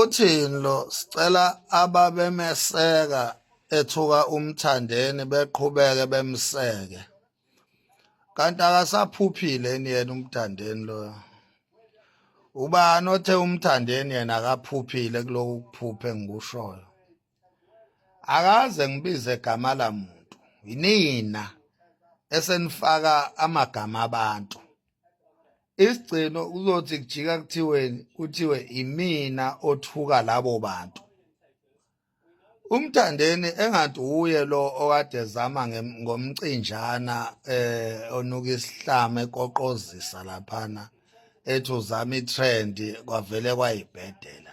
Uthini lo sicela ababemeseka ethuka umthandeni beqhubeke bemseke kanti akasaphuphile yini yena umthandeni loyo ubani othe umthandeni yena akaphuphile kuloku kuphuphe engikushoyo akaze ngibize gama la muntu yinina esenifaka amagama abantu isigcino uzothi kujika kuthiweni kuthiwe imina othuka labo bantu umthandeni engathi uye lo okade zama ngomcinjana eh onuka isihlama ekoqozisa laphana ethi uzama itrend kwavele kwayibhedela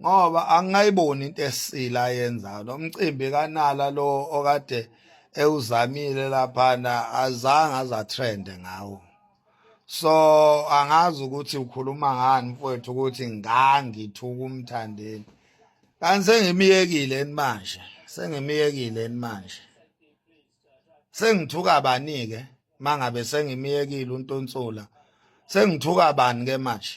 ngoba angayiboni into esile ayenzayo nomcimbi kanala lo okade ewuzamile laphana azange azatrende ngawo so angazi ukuthi ukhuluma ngani mfowethu ukuthi ngangithuka umthandeni kanti sengimiyekile yini manje sengimiyekile yini manje sengithuka bani-ke mangabe sengimiyekile untonsula sengithuka bani-ke manje